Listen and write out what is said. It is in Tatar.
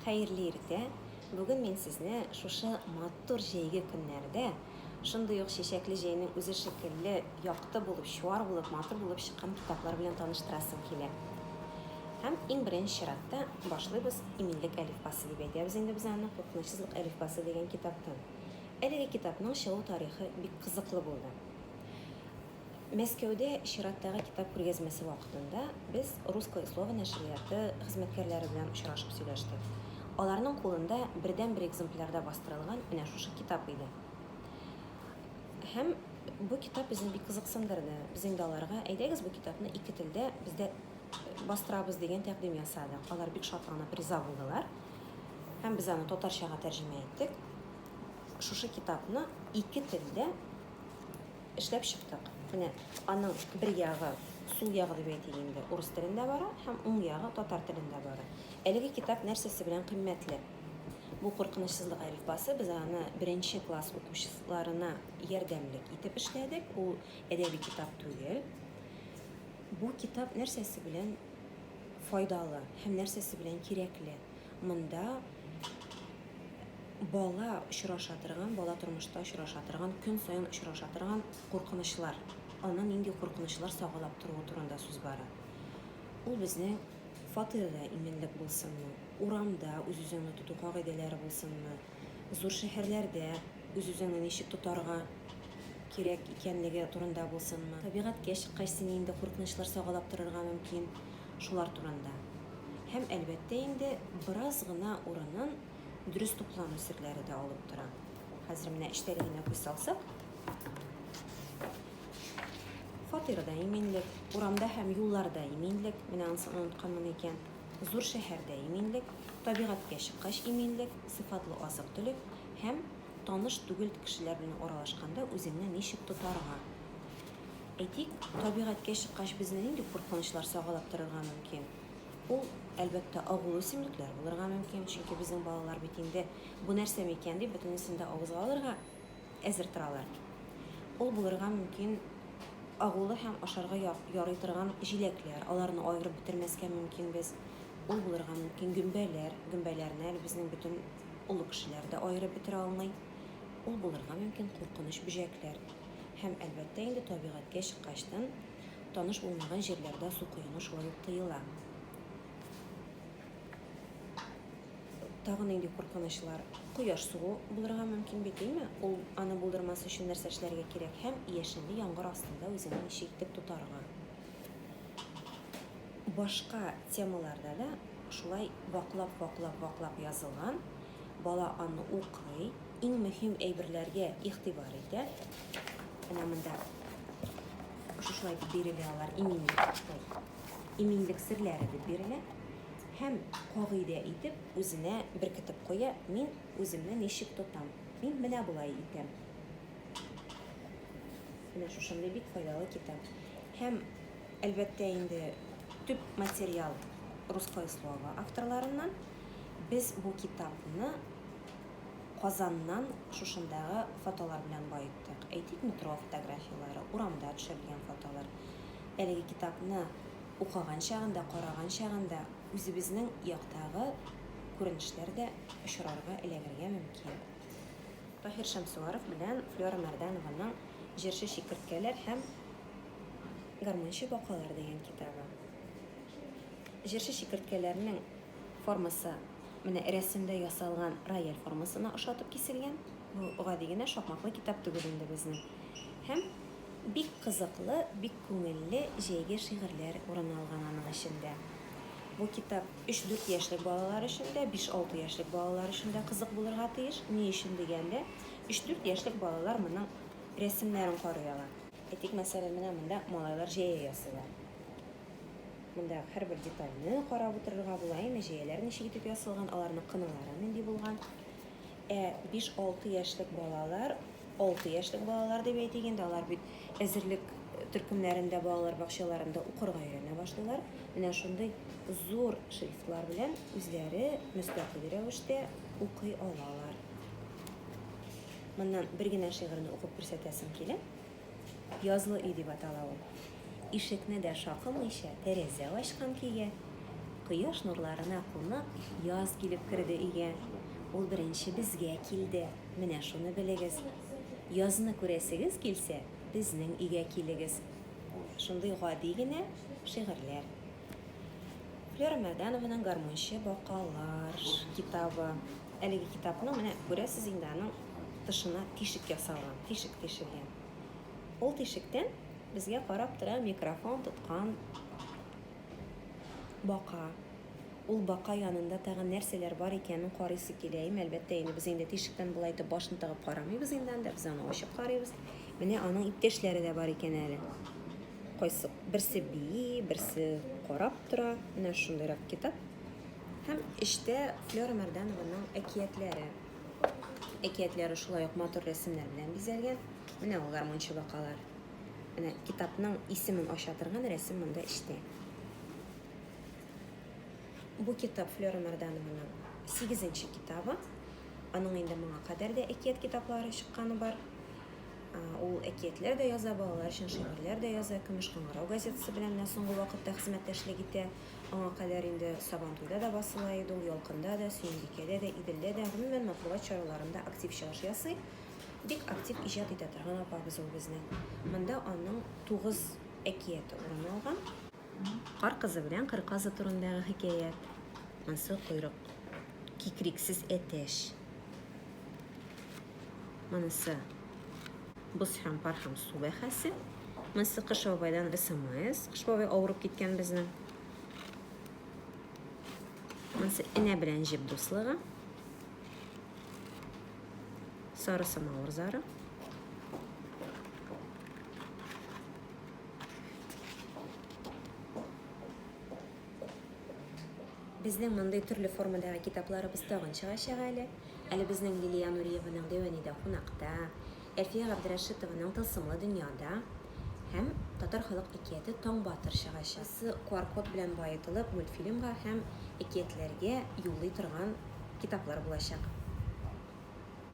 Хәерле иртә! Бүген мин сезне шушы матур җәйге көннәрдә, шундый ук чәчәкле җәйнең үзе шикелле якты булып, чуар булып, матур булып чыккан китаплар белән таныштырасым килә. Һәм иң беренче чиратта башлыйбыз Иминлек әлифбасы дип әйтәбез инде без аны, Куркынычсызлык әлифбасы дигән китаптан. Әлеге китапның чыгу тарихы бик кызыклы булды. Мәскәүдә чираттагы китап күргәзмәсе вакытында без Русское слово нәшрияты хезмәткәрләре белән очрашып сөйләштек. Аларның кулында бердәнбер экземплярда бастырылган менә шушы китап иде. Һәм бу китап безне бик кызыксындырды. Без инде аларга, әйдәгез, бу китапны ике телдә без дә бастырабыз, дигән тәкъдим ясадык. Алар бик шатланып риза булдылар. Һәм без аны татарчага тәрҗемә иттек. Шушы китапны ике телдә Эшләп чыктык. Менә аның бер ягы, сул ягы дип әйтик инде, урыс телендә бара һәм уң ягы татар телендә бара. Әлеге китап нәрсәсе белән кыйммәтле? Бу куркынычсызлык әлифбасы, без аны беренче класс укучыларына ярдәмлек итеп эшләдек. Ул әдәби китап түгел. Бу китап нәрсәсе белән файдалы һәм нәрсәсе белән кирәкле? Монда бала очраша торган, бала тормышта очраша торган, көн саен очраша торган куркынычлар, аны нинди куркынычлар сагалап торуы турында сүз бара. Ул безнең фатирда иминлек булсынмы, урамда үз-үзеңне тоту кагыйдәләре булсынмы, Зур шәһәрләрдә үз-үзеңне ничек тотарга кирәк икәнлеге турында булсынмы, табигатькә чыккач сине инде куркынычлар сагалап торырга мөмкин, шулар турында. Һәм, әлбәттә инде, бераз гына урынын дөрес туклану серләре дә алып тора. Хәзер менә эчтәлегенә күз салсак, фатирда иминлек, урамда һәм юлларда иминлек, менә анысы онытканмын икән. Зур шәһәрдә иминлек, табигатькә чыккач иминлек, сыйфатлы азык-төлек һәм таныш түгел кешеләр белән аралашканда үзеңне ничек тотарга? Әйтик, табигатькә чыккач безне нинди куркынычлар сагалап торырга мөмкин? Ул, әлбәттә, агулы үсемлекләр булырга мөмкин, чөнки безнең балалар бит инде бу нәрсә микән дип бөтенесен дә авызга алырга әзер торалар. Ул булырга мөмкин агулы һәм ашарга ярый торган җиләкләр, аларны аерып бетермәскә мөмкин без. Ул булырга мөмкин гөмбәләр, гөмбәләрне әле безнең бөтен олы кешеләр дә аерып бетерә алмый. Ул булырга мөмкин куркыныч бөҗәкләр. Һәм, әлбәттә инде, табигатькә чыккачтын, таныш булмаган җирләрдә су коену шулай ук тыела. Тагы нинди куркынычлар? Кояш сугу булырга мөмкин бит, димме? Ул аны булдырмас өчен нәрсә эшләргә кирәк? Һәм яшенле яңгыр астында үзеңне ничек итеп тотарга? Башка темаларда да шулай ваклап, ваклап, ваклап язылган. Бала аны укый, иң мөһим әйберләргә игътибар итә. Менә монда шушылай дип бирелә алар иминлек, иминлек серләре дип бирелә. Һәм кагыйдә итеп үзенә беркетеп куя, Мин үземне ничек тотам? Мин менә болай итәм. Менә шушындый бик файдалы китап. Һәм, әлбәттә инде, төп материал Русское слово авторларыннан. Без бу китапны Казаннан шушындагы фотолар белән баеттык. Әйтик, метро фотографияләре, урамда төшерелгән фотолар. Әлеге китапны укыган чагында, караган чагында үзебезнең яктагы күренешләр дә очрарга, эләгергә мөмкин. Таһир Шәмсуаров белән Флера Мәрданованың Җырчы чикерткәләр һәм гармунчы бакалар дигән китабы. Җырчы чикерткәләрнең формасы менә рәсемдә ясалган рояль формасына ошатып киселгән. Бу гади генә шакмаклы китап түгел инде безнең. Һәм Бик кызыклы, бик күңелле, җәйге шигырьләр урын алган аның эчендә. Бу китап өч-дүрт яшьлек балалар өчен дә, биш-алты яшьлек балалар өчен дә кызык булырга тиеш. Ни өчен дигәндә, өч-дүрт яшьлек балалар моның рәсемнәрен карый ала. Әйтик, мәсәлән, менә монда малайлар җәя ясыйлар. Монда һәрбер детальне карап утырырга була. Әнә җәяләр ничек итеп ясалган, аларның кыналары нинди булган. Ә биш-алты яшьлек балалар, алты яшьлек балалар дип әйтик инде, алар бит әзерлек төркемнәрендә, балалар бакчаларында укырга өйрәнә башлыйлар. Менә шундый зур шрифтлар белән үзләре мөстәкыйль рәвештә укый алалар. Моннан бер генә шигырьне укып күрсәтәсем килә. Язлы өй дип атала ул. Ишекне дә шакымыйча, тәрәзә ачкан көйгә. Кояш нурларына кунып, яз килеп керде өйгә. Ул беренче безгә килде, менә шуны белегез. Язны күрәсегез килсә, безнең өйгә килегез. Шундый гади генә шигырьләр. Вера Мәдәнованың Гармунчы бакалар китабы. Әлеге китапның менә күрәсез инде аның тышына тишек ясалган, тишек тишелгән. Ул тишектән безгә карап тора микрофон тоткан бака. Ул бака янында тагын нәрсәләр бар икәнен карыйсы килә. Им, әлбәттә, инде без инде тишектән болай итеп башны тыгып карамыйбыз инде анда, без аны ачык карыйбыз. Менә аның иптәшләре дә бар икән әле. Кайсы берсе бии, берсе карап тора. Менә шундыйрак китап. Һәм эчтә Флера Мәрданованың әкиятләре. Әкиятләре шулай ук матур рәсемнәр белән бизәлгән. Менә ул гармунчы бакалар. Менә китапның исемен ача торган рәсем монда эчтә. Бу китап Флера Мәрданованың 8 нче китабы. Аның инде моңа кадәр дә әкият китаплары чыкканы бар. Ул әкиятләр дә яза, балалар өчен шигырьләр дә яза, Көмеш кыңгырау газетасы белән менә соңгы вакытта хезмәттәшлек итә. Аңа кадәр инде Сабантуйда да басыла иде ул, Ялкында да, Сөембикәдә дә, Иделдә дә, гомумән, матбугат чараларында актив чыгыш ясый. Бик актив иҗат итә торган апабыз ул безнең. Монда аның тугыз әкияте урын алган. Кар кызы белән кыр казы турындагы хикәят, Ансы койрык, Кикриксез әтәч, Монысы боз һәм пар һәм су бәхәсе. Монысы Кыш бабайдан СМС. Кыш бабай авырып киткән безнең. Монысы энә белән җеп дуслыгы. Сары самавыр зары. Безнең мондый төрле формадагы китапларыбыз тагын чыгачак әле. Әле безнең Лилия Нуриеваның Дәвәни дә кунакта, Әлфия Габдрәшитованың Тылсымлы дөнья да һәм Татар халык әкияте Таң батыр чыгачак. Кайсы QR-код белән баетылып, мультфильмга һәм әкиятләргә юллый торган китаплар булачак.